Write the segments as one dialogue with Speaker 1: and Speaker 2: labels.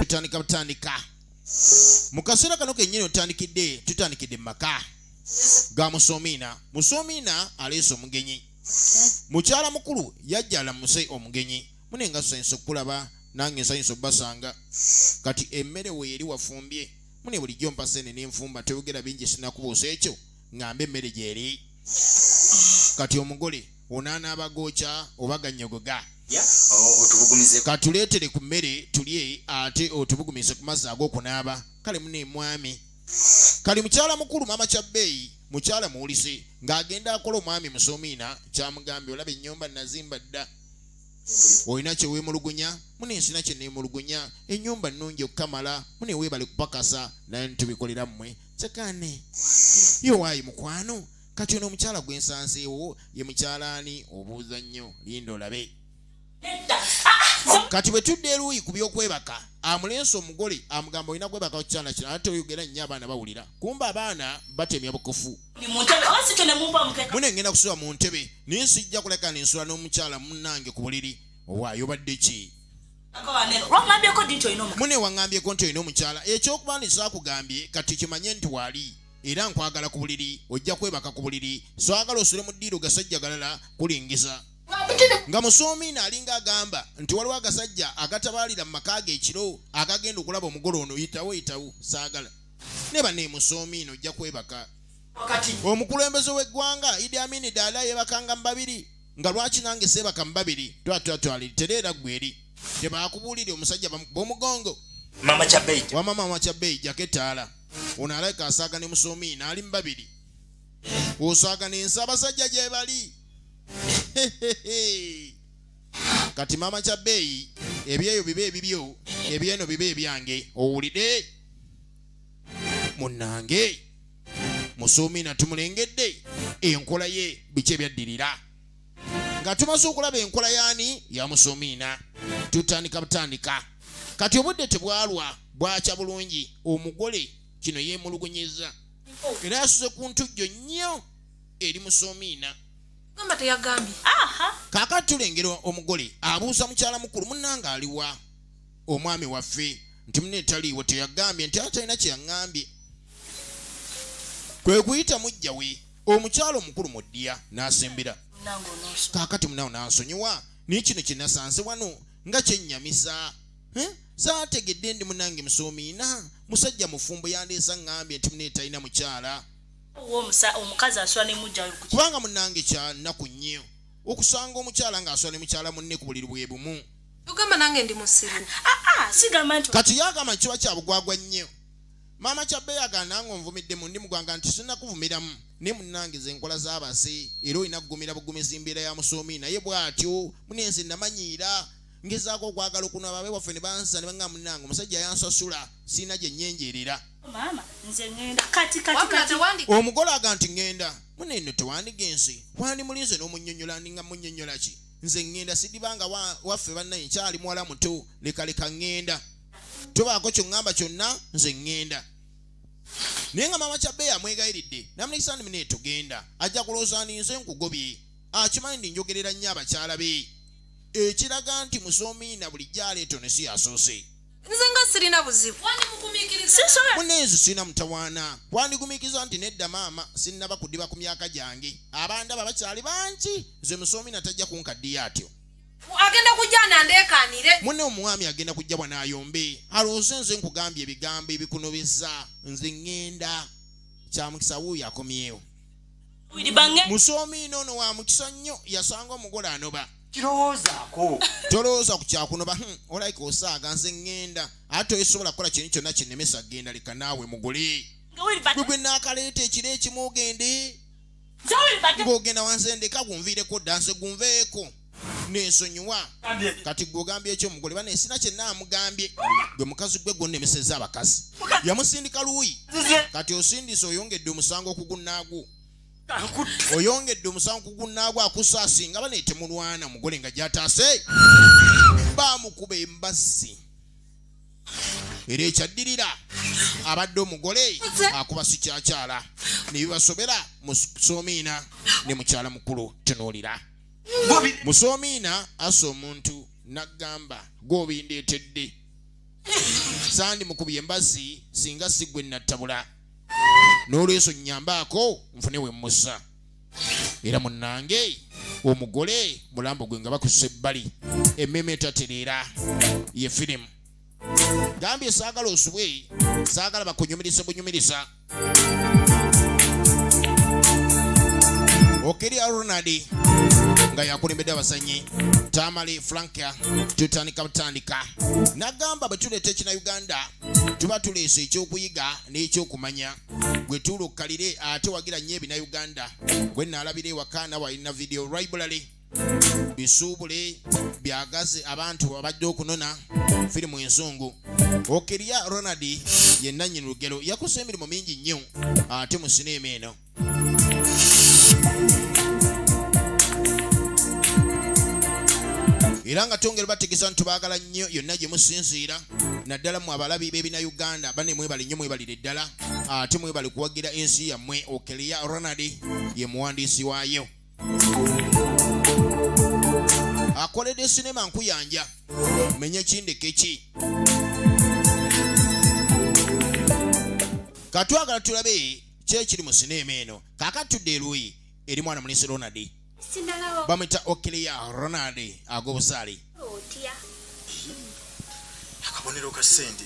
Speaker 1: tutandika butandika mu kaseera kano kennyini otandikidde tutandikidde mu maka ga musomiina musomiina aleese omugenyi mukyala mukulu yajjala muse omugenyi mune nga nsanyusa okukulaba nange nsanyusa okubasanga kati emmere weeri wafumbye mune bulijjo mpasene nenfumba teyogera bingi sinakubuusa ekyo ŋŋambe emmere gy'eri kati omugole onaanaaba gookya oba gannyogoga katuleetere ku mmere tulye ate otubugumize ku mazzi ag'okunaaba kale muna emwami kali mukyala mukulu maama kya bbeeyi mukyala muwulize ng'agenda akola omwami musomiina kyamugambye olaba ennyumba nazimba dda olina kyeweemulugunya mune nsina kye neemulugunya ennyumba nnungi okukamala mune weebale kupakasa naye nitubikolera mmwe sekane yowayi mukwano kati ono omukyala gwe nsanzeewo ye mukyala ani obuuza nnyo linda olabe kati bwe tudde eruuyi ku by'okwebaka amulensi omugole amugamba olina kwebaka kukyana kino ate oyogera nnyo abaana bawulira kumba abaana batemya bukofu mune ngenda kusula mu ntebe naye sijja kuleka nensula n'omukyala munange ku buliri owaayo badde ki mune waŋŋambyeko nti olina omukyala ekyokuba nti saakugambye kati kimanye nti waali era nkwagala ku buliri ojja kwebaka ku buliri swagala osule mu ddiiro gasajja galala kulingiza nga musoomina alinga agamba nti waliwo agasajja agatabaalira mu maka ge ekiro agagenda okulaba omugole ono yitawo yitawo saagala ne baneemusoomina ojja kwebaka omukulembeze w'eggwanga idi amini daala yebakanga mu babiri nga lwaki nange seebaka mu babiri twatwatwaliri tereera ggweri tebaakubuulire omusajja bamukuba omugongo wama maama kyabeeyi jako ettaala ono alabika asaaga ne musoomi naali mu babiri osaaga nensi abasajja gye bali kati maama kyabeeyi ebyeyo biba ebibyo ebyeno biba ebyange owulide munnange musuumiina tumulengedde enkola ye biki ebyaddirira nga tumaze okulaba enkola yaani ya musuumiina tutandika butandika kati obudde tebwalwa bwakya bulungi omugole kino yeemulugunyiza era yasuze ku ntujjo nnyo eri musuumiina mama teyagambye kakati tulengera omugole abuuza mukyala mukulu munnange aliwa omwami waffe nti mune taliiwo teyagambye nti atalina kyeyaŋambye kwe kuyita mujja we omukyalo omukulu mu ddiya n'asembera kaakati munawo n'ansonyiwa naye kino kye nasanze wano nga kyennyamiza saategedde ndi munange musoomiina musajja mufumbo yandeesa ŋŋambye nti mune talina mukyala
Speaker 2: kubanga munange kya
Speaker 1: nnaku nnyo okusanga omukyala ng'asula ne mukyala munne ku buliri bwe bumu tugamba nange ndi
Speaker 3: musiru ah, ah, sigamba nti
Speaker 2: kati yagamba kiba kya
Speaker 1: bugwagwa nnyo maama kyabbe yagana nga onvumidde mu ndi mugwanga nti sirina kuvumiramu naye munange ze nkola z'abase era olina kugumira bugumizi mbeera ya musoomi naye bw'atyo mune nze namanyiira ngezaako okwagala okuno ababe waffe ne bansa ne banga munange omusajja yansasula sirina gye nnyenjeerera
Speaker 2: omugole
Speaker 1: aga nti ŋŋenda mune eno tewandigenze wandimulinze n'omunyonyola ndinga munyonyola ki nze ŋŋenda sidibanga waffe bannaye nkyali muwala muto lekaleka ŋŋenda tobaako kyoŋŋamba kyonna nze ŋŋenda naye nga maama kyabbe yamwegayiridde namunekisaani mune tugenda ajja kulowooza ni nze nkugobye akimanyi ndi njogerera nnyo abakyala be ekiraga nti musoomiina bulijjo aleeto ne si yasoose nze nga sirina
Speaker 3: buzibu
Speaker 1: muneezi sirina mutawaana kwandigumiikiriza nti nedda maama sinnaba kudiba ku myaka gyange abandaba bakyali bangi nze musoomi natajja kunkaddiyo atyo agenda kujja
Speaker 3: nandekanire mune omwami agenda
Speaker 1: kujja bwanayombe alowooze nze nkugambye ebigambo ebikunobeza nze ŋŋenda kyamukisa wuuyo akomyewo musoomi noono wa mukisa nnyo yasanga omugole anoba kirowoozaako tolowooza ku kyakuno ba hmm, olaika osaaga nze ŋŋenda ate toyisobola kukola kintu kyonna kinnemesa genda leka naawe mugule gwe gwe naakaleeta ekiro ekimu ogende ng'ogenda wanze ndeka gunviireko dda nze gunveeko nensonyiwa kati gwe ogambye ekyo mugole bana esina kye naamugambye gwe mukazi gwe gwonnemeseza abakazi yamusindika luuyi kati osindise oyongedde omusango okugunnaagwo oyongedde omusango ku gunnaagwo akusa asinga bane temulwana omugole nga gyataase baamukuba embazzi era ekyaddirira abadde omugole akuba sikyakyala ne bibasobera mu soomiina ne mukyala mukulu tunuulira mu soomiina asa omuntu n'agamba gw'obindeetedde sandi mukubi embazzi singa sigwe nattabula n'olweso nyambaako nfune we mmusa era munnange omugole mulambo gwe nga bakusa ebbali emmeema etatereera ye firimu gambye saagala osubwe saagala bakunyumiriza bunyumiriza okeri ronald nga yakulembedde abazanyi tamale franka tutandika butandika nagamba bwe tuleeta ekina uganda tuba tuleese ekyokuyiga n'ekyokumanya gwe tuulukkalire ate wagira nnyo ebina uganda gwe naalabira ewaka nawe alina video library bisuubule byagazi abantu abajja okunona firimu enzungu okirya ronald ye nannyini lugero yakosa emirimu mingi nnyo ate mu sineema eno era nga tongera bategeeza nti baagala nnyo yonna gye musinziira naddala mu abalabi b'ebina uganda bane mwebale nnyo mwebalire ddala ate mwebale kuwagira ensi yammwe okelia ronald ye muwandiisi waayo akoledde sinema nkuyanja menya kindeke ki katwagala tulabe kyekiri mu sineema eno kakati tudde eruuyi eri mwana mulisi ronald bamwita okilia ronald agobusaali
Speaker 4: akabonero ka sente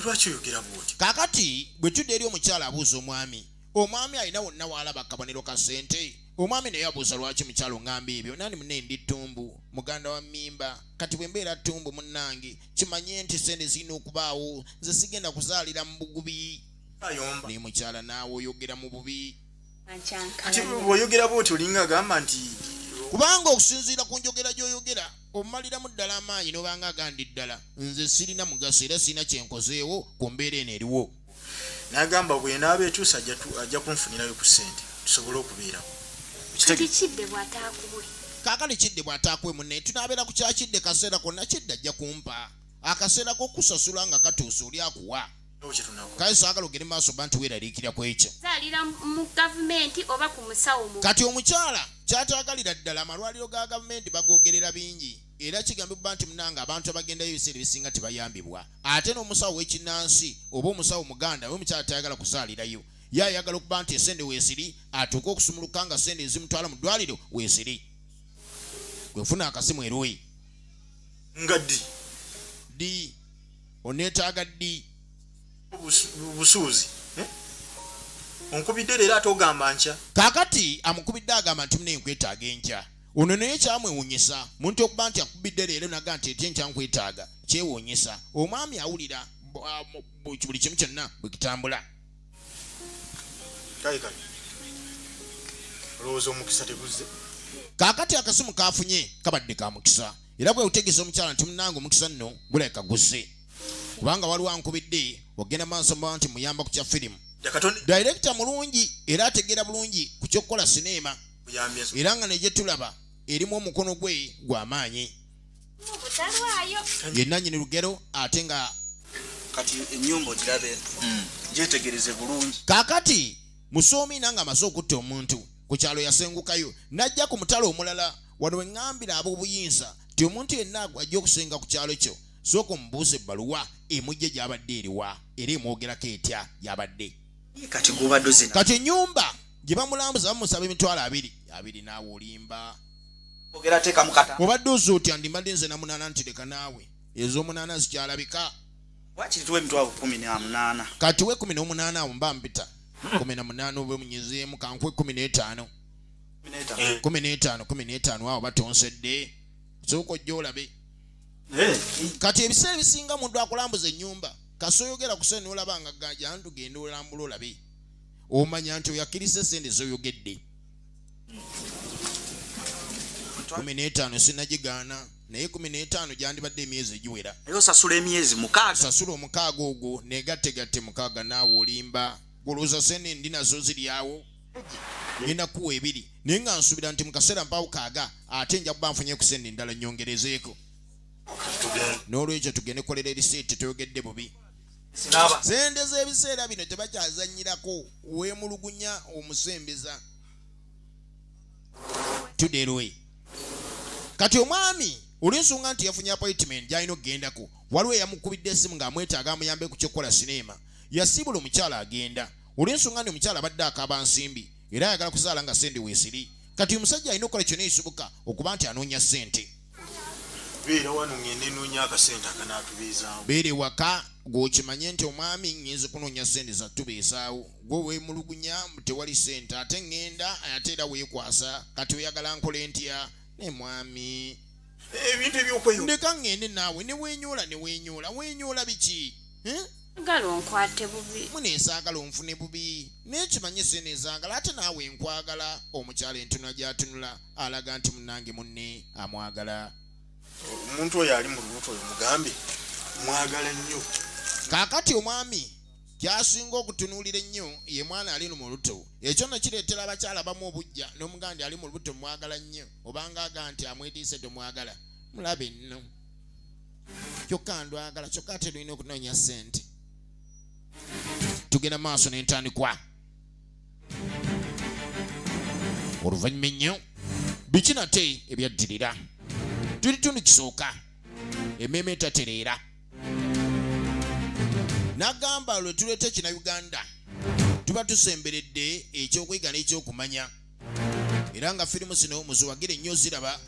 Speaker 4: lwaki oyogera bwoti kakati bwe tudde
Speaker 1: eri omukyala abuuza omwami omwami alina wonna waalaba akabonero ka sente omwami naye abuuza lwaki mukyalo ngamba ebyo nani mune ndi ttumbu muganda wa mimba kati bwe mbeera ttumbu munnange kimanye nti sente zirina okubaawo nze sigenda kuzaalira mu bugubi naye mukyala naawe oyogera mu bubi
Speaker 4: bwoyogera bwoti olinga agamba nti kubanga
Speaker 1: okusinziira ku njogera gy'oyogera omaliramu ddala amaanyi nobanga agandi ddala nze sirina mugaso era sirina kyenkozeewo ku mbeera eno eriwo nagamba
Speaker 4: bwenaaba etuusa ajja kunfunirayo ku ssente tusobole okubeerawo
Speaker 1: kakale kidde bw'ataakuwe munne tunaabeera ku kyakidde kaseera konna kidde ajja kumpa akaseera k'okusasula nga katuusa oli akuwa kale saagala ogende maaso ba nti weeraliikira ku ekyo kati omukyala kyataagalira ddala amalwaliro ga gavumenti bagoogerera bingi era kigambibwa nti munange abantu abagendayo ebiseera ebisinga tebayambibwa ate n'omusawo w'ekinnansi oba omusawo muganda we omukyala tayagala kuzaalirayo ye ayagala okuba nti esente weesiri atuuke okusumuluka nga sente ezimutwala mu ddwaliro weesiri gwefuna akasimu eroyi
Speaker 4: nga ddi
Speaker 1: ddi oneetaaga ddi
Speaker 4: busuuzi eh? onkubidde leero ate ogamba nkya kaakati amukubidde
Speaker 1: agamba nti muna enkwetaaga enkya ono naye kyamwewunyisa muntu okuba nti akubidde leero naga nti ety enkya nkwetaaga kyewunyisa omwami awulira buli kimu kyonna bwe kitambula
Speaker 4: olowooza omukisa teguzze kaakati
Speaker 1: akasimu kaafunye kabadde ka mukisa era kwe kutegeeza omukyala nti munange omukisa nno gulabika guze kubanga waliwo ankubidde ogenda maaso mubaa nti muyamba ku kya firimu dayirekita mulungi era ategeera bulungi ku ky'okukola sineema era nga negye tulaba erimu omukono gwe gwa maanyi yenanyini lugero ate nga kati
Speaker 5: enyumba ogirabe hmm. gyetegereze bulungi kakati
Speaker 1: musoomi nanga amaze okutta omuntu ku kyalo yasengukayo n'ajja ku mutala omulala wano we ŋŋambira ab'obuyinza nti omuntu yenna agwajja okusenga ku kyalo kyo sooka omubuuza ebbaluwa emujja gy'abadde eriwa era emwogerako etya y'abadde kati
Speaker 5: gubaduzi kati ennyumba
Speaker 1: gye bamulambuza bamusaba emitwalo abiri abiri naawe olimba
Speaker 5: obadde oza otya ndimbadde
Speaker 1: nze namunaana nti leka naawe ez'omunaana zikyalabika
Speaker 5: kati we kumi
Speaker 1: n'omunaana awo mba mpita kumi na munaana oba omunyezeemu kankwe kumi n'etaano eh. kumi n'etaano kumi n'etaano awo batonsedde sooka ojja olabe eh. kati ebiseera ebisinga muntu akulambuza ennyumba kasi oyogera kusente nolaba nga ganja ntu genda olambula olabe omanya nti oyakkiriza esente zoyogedde kumi n'etaano sinagigaana naye kumi n'etaano gyandibadde emyezi egiwera naye osasula emyezi
Speaker 5: mukaaga osasula omukaaga ogwo
Speaker 1: negategatte mukaaga naawe olimba gulowooza sente ndi nazo ziryawo ngenda kuwa ebiri naye nga nsuubira nti mu kaseera mpaawo kaaga ate nja kuba nfunye kusente endala nyongerezeeko n'olwekyo tugende kolera erisiiti toyogedde bubi sente z'ebiseera bino tebakyazanyirako weemulugunya omusembeza tuderwe kati omwami olwensonga nti yafunye appointment gyalina okugendako waliwo eyamukubidde esimu ng'amwetaaga amuyambe ku kyokukola sineema yasiibula omukyala agenda olw'ensonga nti omukyala abadde akaaba nsimbi era ayagala kuzaala nga sente weesiri kati uyu musajja alina okukola kyona ekisoboka okuba nti anoonya sente
Speaker 4: beera wano ngende noonya akasente akanaatubeezaawo beera ewaka
Speaker 1: gwokimanye nti omwami ngenzi kunoonya sente zatubeezaawo gwe weemulugunya tewali sente ate ngenda ate era weekwasa kati oyagala nkola entya ne mwami ebintu
Speaker 4: ebyokweyo ndeka ngende naawe
Speaker 1: ne weenyoola ne weenyoola weenyoola biki eh? ngalo
Speaker 2: nkwate bubi mune ezaagala onfune
Speaker 1: bubi naye kimanye sene ezaagala ate naawe nkwagala omukyala entunula gyatunula alaga nti munange munne amwagala omuntu
Speaker 4: oyo ali mu lubuto oyo mugambe mwagala nnyo kaakati
Speaker 1: omwami kyasinga okutunuulira ennyo ye mwana ali mu luto ekyo no kireetera abakyala bamu obujja n'omugandi ali mu lubuto mwagala nnyo obanga aga nti amwediise tomwagala mulabe nno kyokka ndwagala kyokka ate lulina okunoonya sente tugenda maaso nentandikwa oluvannyuma ennyo biki nate ebyaddirira tuli tundu kisooka emmeema etatereera nagamba lwe tuleeta ekina uganda tuba tusemberedde ekyokwega n'ekyokumanya era nga firimu zino muziwagire nnyo ziraba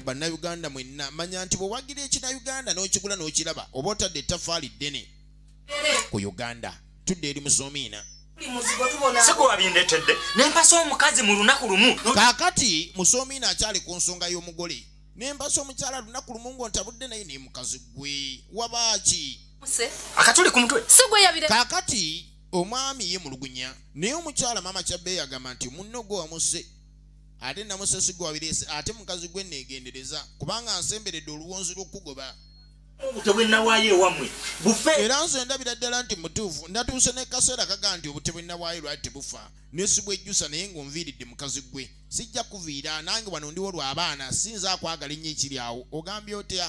Speaker 1: bannayuganda mwenna manya nti bwewagira ekinayuganda n'okigula n'okiraba oba otadde ettafaali ddene ku uganda tudde eri musomiina
Speaker 6: sigwabindetedde nempasa omukazi mu lunaku lumu kakati
Speaker 1: musomiina akyali ku nsonga y'omugole nempasa omukyala lunaku lumu ng'ontabudde naye nemukazi gwe wabaaki akatuli
Speaker 6: ku mutwe sigweyabire kakati
Speaker 1: omwami ye mulugunya naye omukyala maama kyabbe yagamba nti munno gwe wamuse ate namusasi gwe wabireese ate mukazi gwe neegendereza kubanga nsemberedde oluwonzi lw'okukugoba obutebwe
Speaker 6: nawaayo ewamwe bufe era nze ndabira
Speaker 1: ddala nti mutuufu ndatuuse nekaseera kaga nti obutebwe nawaayo lwali tebufa nesibwejjusa naye ngaonviiridde mukazi gwe sijja kuviira nange wano ndiwo lwabaana siyinza akwagala ennyo ekiri awo ogambye otya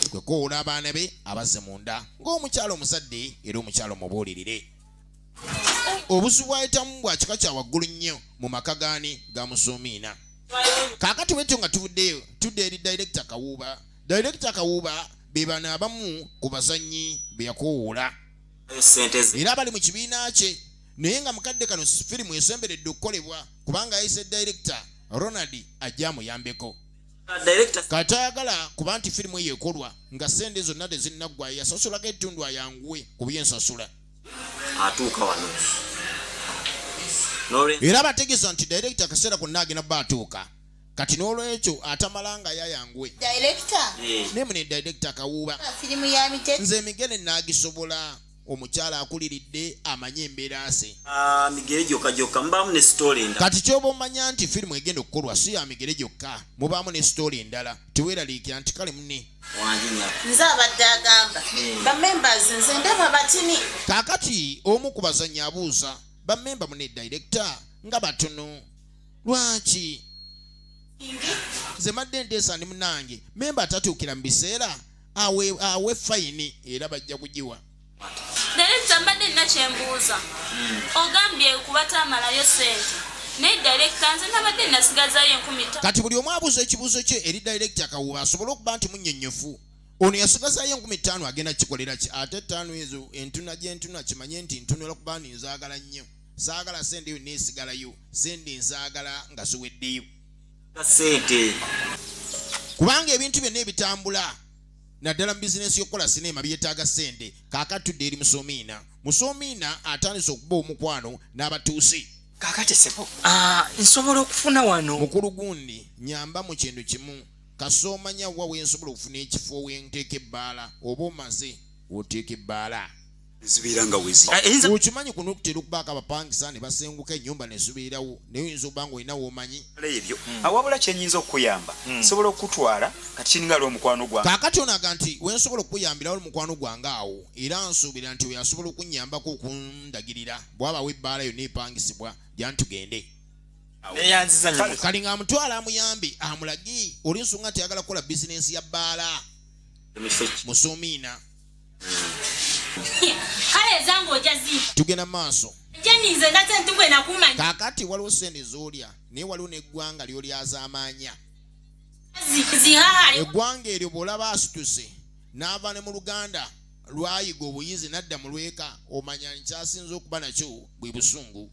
Speaker 1: kwe kwekowola abaana be abazze munda ng'omukyala omuzadde era omukyala omubuulirire obusu bwayitamu bwa kika kya waggulu nnyo mu maka gaani ga musuumiina kaakati bwetyo nga tuvuddeyo tudde eri dayirekita kawuuba dayirekita kawuuba be bano abamu ku bazannyi be yakowoola era abali mu kibiina kye naye nga mukadde kano firimu esemberedde okukolebwa kubanga yayise dayirekita ronald ajja amuyambeko nga tayagala kuba nti firimu eyo ekolwa nga sente zonna tezinnaggwayo yasasulaga etundu ayanguwe ku byensasula atuuka
Speaker 6: wano
Speaker 1: era bategeeza nti direkita akaseera konna agenda ba atuuka kati n'olwekyo atamala nga yayanguwe eh. naye mune direkita akawuuba nze emigere naagisobola omukyala akuliridde amanye embeera ze ah, migere gyokka
Speaker 6: gyokka mubaamu ne sitoola endala kati kyoba omanya nti
Speaker 1: firimu egenda okukolwa si ya migere gyokka mubaamu ne sitoola endala teweeraliikira nti kale mune nze
Speaker 7: abadde agamba hmm. bamembers nze ndaba batini kaakati
Speaker 1: omu ku bazannyi abuuza bamemba mune direkita nga batono lwaki nze madde nteesa ndi munange memba atatuukira mu biseera awe awe fayini era bajja kugiwa direkita
Speaker 2: mbadde nina kyembuuza hmm. ogambye kubatamalayo sente naye direkita nze nabadde nasigazayo enkumi kati buli omu abuuza
Speaker 1: ekibuuzo kye eri direkita kawuba asobole okuba nti munyonyofu ono yasigazayo enkumi ttaano agenda kikolera ki ate ettaano ezo entuna gyentuna kimanye nti ntunula kuba ndi nzaagala nnyo zaagala sente yo neesigalayo sente nzaagala nga ziweddeyo sente kubanga ebintu byonna ebitambula naddala mu bizinensi y'okukola sineema byetaaga sente kaakati tudde eri musomiina musomiina atandise okuba omukwano n'abatuusi kaakati sebo ah, nsobola
Speaker 6: okufuna
Speaker 1: wano mukulu gundi
Speaker 6: nyamba
Speaker 1: mu kintu
Speaker 6: kimu
Speaker 1: kasoomanya wa wensobola okufuna ekifo wenteeka ebbaala oba omaze oteeka ebbaala
Speaker 8: zibeera nga wezi ah, okimanyi kuno okutera
Speaker 1: okubaako abapangisa ne basenguka ennyumba ne zibeerawo naye oyinza okuba nga olina woomanyi ebyo hmm. awabula
Speaker 8: ah, kyenyinza okukuyamba hmm. nsobola okukutwala kati kiringa ali omukwano gwange kakati onaga nti
Speaker 1: wensobola okukuyambirawo omukwano gwange awo era nsuubira nti oyo asobola okunnyambako okundagirira bwabawo ebbaala yonna epangisibwa gyantugende kalinga amutwala amuyambi amulagi oli nsonga nti ayagala kukola bizinensi ya bbaala musumiina
Speaker 2: tugenda maaso kakati waliwo sente
Speaker 1: zolya naye waliwo neggwanga lyolyazamanya eggwanga eryo bwolaba asituse naava ne mu luganda lwayiga obuyizi nadda mu lweka omanya nkyasinza okuba nakyo bwe busungu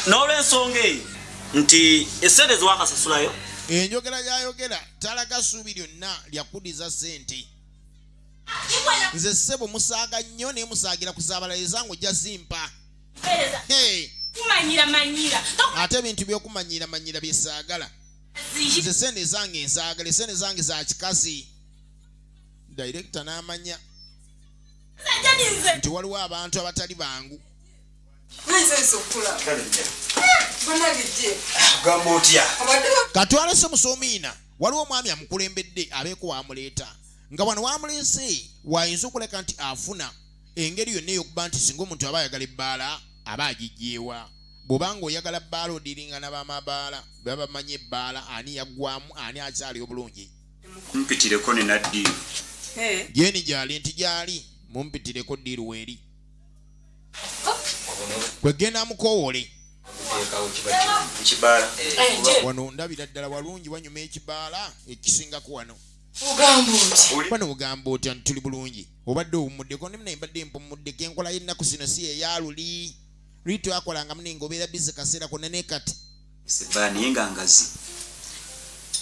Speaker 6: n'olwensonga eyo nti esente ziwakasasulayo enjogera
Speaker 1: yayogera talaga suubi lyonna lyakudiza sente nze ssebo musaaga nnyo naye musaagira kuzaabala ezange ojja zimpa ate ebintu byokumanyiramanyira byesaagala nze sente ezange nzaagala esente zange za kikazi direkita n'amanya nti waliwo abantu abatali bangu katwalese musomiina waliwo omwami amukulembedde abeeko wamuleeta nga wano wamuleese waayinza okuleka nti afuna engeri yonna eyokuba nti singa omuntu aba ayagala ebbaala aba agijjeewa bwobanga oyagala bbaala odiringa nabamabaala baba bamanyi ebbaala ani yaggwamu ani akyali obulungi mumpitireko
Speaker 8: nenaddiiru gyeni
Speaker 1: gyali nti gyali mumpitireko ddiiru weeri kwegenda mukowole wano ndabira ddala walungi wanyuma ekibaala ekisingako wano bano bugamba otya nti tuli bulungi obadde owumuddeko ne munaye mbadde mpumuddeko enkola y'ennaku zino si eyaluli luli twakolanga mune nga obeera bizi kaseera konna ne kati naye nga
Speaker 8: ngazi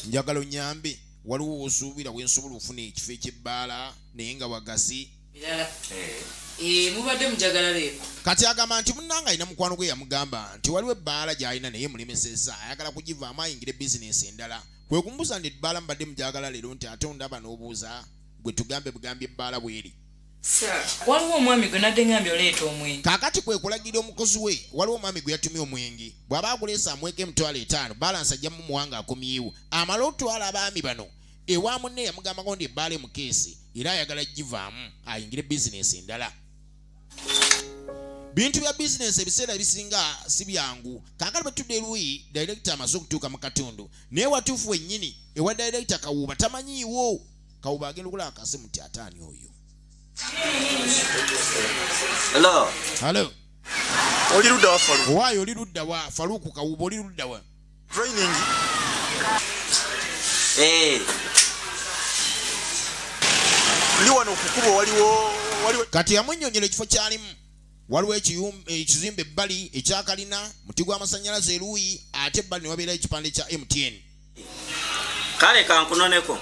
Speaker 1: njagala onyambe waliwo wosuubira wensobola okufuna ekifo ekyebbaala naye nga wagazi birala eh. Eh, mubadde
Speaker 9: mujagala leero kati agamba nti
Speaker 1: munnanga alina mukwano gwe yamugamba nti waliwo ebbaala gy'alina naye mulemeseza ayagala kugivaamu ayingire bizinensi endala kwe kumubuuza nti ebbaala mubadde mujagala leero nti ate ondaba n'obuuza gwe tugambe bugambi ebbaala bweri waliwo
Speaker 9: omwami gwe nadde ngambye oleeta omwenge kaakati kwe kulagira
Speaker 1: omukozi we waliwo omwami gwe yatumye omwenge bw'aba aguleesa amweka emitwalo etaano balansi ajja mumuwanga akomyewo amale otwala abaami bano ewa munne yamugambako nti ebbaala emukeesi era ayagala givaamu ayingire bizinensi endala bintu bya bizinensi ebiseera ebisinga si byangu kaakati bwe tudde luyi dayirekita amaze okutuuka mu katundu naye watuufu wennyini ewa dayirekita kawuuba tamanyiiwo kawuuba agenda okulaba kasimu ti ataani oyo
Speaker 4: oli ludda wa
Speaker 1: faluuku kawuuba oli ludda wa Training.
Speaker 4: Hey. Eh. Ndi wano kukubo waliwo waliwo Kati yamunyonyera
Speaker 1: ekifo kyalimu waliwo ekizimbe ebbali ekyakalina muti gw'amasannyalaze eruuyi ate ebbali ne wabeerayo ekipande kya MTN.
Speaker 6: Kale kankunoneko.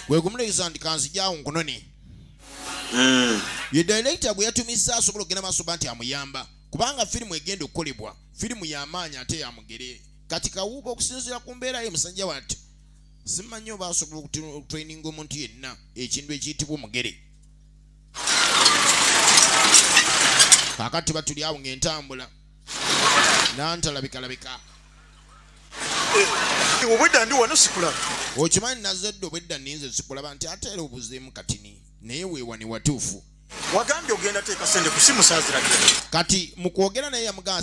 Speaker 1: Gwe gumuleeza nti kanzijaawo nkunone. Mm. Ye director gwe yatumizza asobola okugenda maaso ba nti amuyamba. kubanga firimu egenda okukolebwa firimu yamaanyi ate yamugere kati kawuuba okusinziira ku mbeera ye musajja wati simanyi oba asobola okutraininga omuntu yenna ekintu ekiyitibwa omugere kakati batuli awo ngaentambula nantalabikalabika
Speaker 4: eh, obwedda ndi wano sikulaba okimanyi nazadde
Speaker 1: obwedda ninze sikulaba nti ateera obuzeemu katini naye wewani watuufu
Speaker 4: wagambye
Speaker 1: ogenda
Speaker 4: teeka
Speaker 1: sente
Speaker 4: kusimu
Speaker 1: saziragera
Speaker 4: kati mukwogera
Speaker 1: naye
Speaker 4: yamugaa